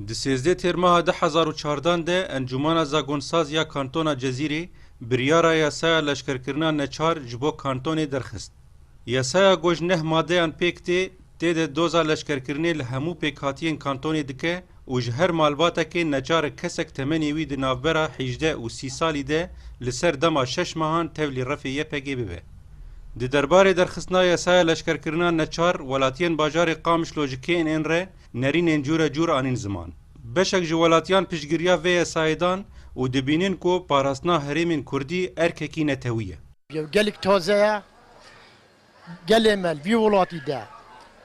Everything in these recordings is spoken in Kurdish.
Di sêzdeh Têrmaha du hezar û çardan de Encûmana Zagonsaz ya Kantona Cezîrê biryara yasaya leşkerkirina neçar ji bo kantonê derxist. Yasaya ku ji neh madeyan pêk tê, tê de doza leşkerkirinê li hemû pêkhatiyên kantonê dike û ji her malbatekê neçarek kesek temenê wî di navbera hîjdeh û sî salî de li ser dema şeş mehan tevlî refê YPG'ê bibe. Di derbarê derxistina yasaya leşkerkirina neçar, welatiyên bajarê Qamişlo ji kênr Nerînên cure cure anîn ziman. Beşek ji welatiyan piştgiriya vê yesayê dan û dibînin ku parastina herêmên kurdî erkekî netewî ye. Ew gelek taze ye. Gelê me li vî welatî de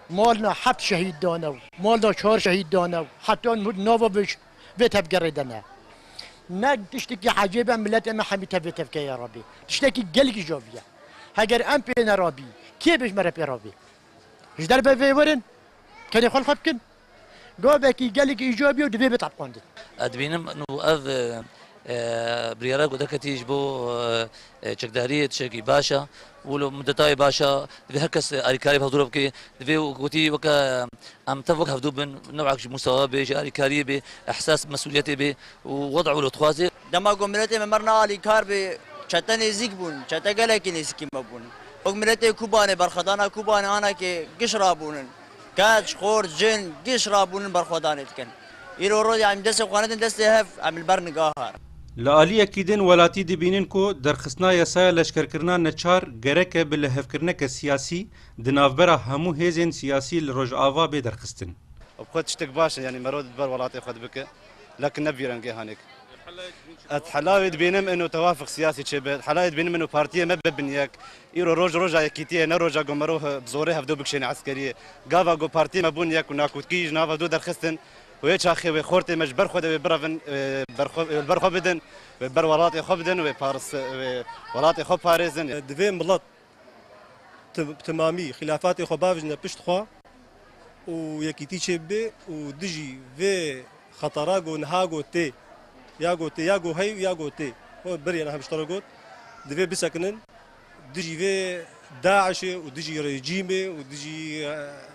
mal na heft şehîd dane û mal na çar şehîd dane û heta niha nava vê tevgerê de ne. Ne tiştekî ecêb e miletê me hemî tevê tevkeyê re bê. Tiştekî gelek îjabî ye. Heger em pê ne rabî kê bê ji me re pê rabê? Ji derve vê werin tenê xwe li xwe bikin. Gavekî gelekî îco bîyo divê bê tapxandin. Ez dibînim nû ev biryara ku derketî ji bo çekdariyê tişekî baş e û li mudetayê baş e. Divê her kes alîkariyê bi hevdûra bike. Divê gotî weke em tev wek hevdû bin newek ji musawa bê, ji alîkariyê bê, ehsas mesûliyetê bê û weda û lotxwazê. Dema ku miletê me mirna alîkar bû çete nêzîk bûn, çete gelekî nêzîkî me bûn. Wek miletê Kubanê berxwedana Kubanê ana ki giş rabûn in. Keç, xort, cin giş rabûn in berxwedanê dikin. Îro rojê em destê xwe nedin destê hev em li ber nigaha. Li aliyekî din welatî dibînin ku derxistina yasaya leşkerkirina neçar gerek e bi lihevkirineke siyasî di navbera hemû hêzên siyasî li Rojava bê derxistin. Bi xwe tiştek baş e yanî merod li ber welatê xwe dibike. Lakin ne bi vî rengê hanik. Ez helayê dibînim ino tewafik siyasî çêbe. Ez helayê dibînim ino partiyê me bibe bin yek. Îro roj roja yekîtiyê ye ne roja ku mirov bi zorê hevdo bikişêne eskeriyê. Gava ku partiyê me bûn yek û nakotkî ji nav hevdo derxistin û yê çaxê wê xortê me ji ber xwe de wê birevin li ber xwe bidin, wê ber welatê xwe bidin, wê welatê xwe parêzin. Divê milet bi temamî xilafatê xwe bavijne pişt xwe û yekîtî çêbibe û dijî vê xetara ku niha ku tê ya ku tê ya ku hey û ya ku tê berê niha ji te re got divê bisekinin dijî vê DAIŞê û dijî rejîmê û dijî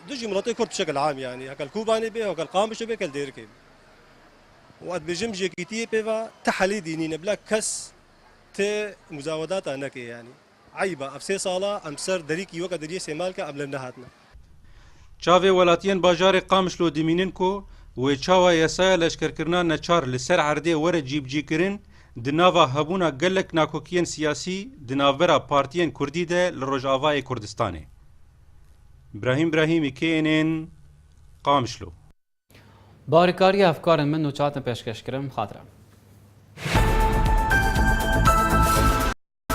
dijî miletê kurd bi şekil am yanî hekel Kobanê bê hekel Qamişê bê hekel Dêrikê bê. û ez dibêjim ji yekîtiyê pê ve ti helê dînîne bila kes ti muzawedata neke yanî. Eyb e, ev sê sal e em ser derîkî weke deriyê Sêmalke em li nehatine. Çavê welatiyên bajarê Qamişlo dimînin ku wê çawa yasaya leşkerkirina neçar li ser erdê were cîbicîkirin di nava hebûna gelek nakokiyên siyasî di navbera partiyên kurdî de li Rojavayê Kurdistanê. Brahîm Brahîmî KNN Qamişlo. Barîkariya efkarên min û çatin pêşkêşkirin xatire.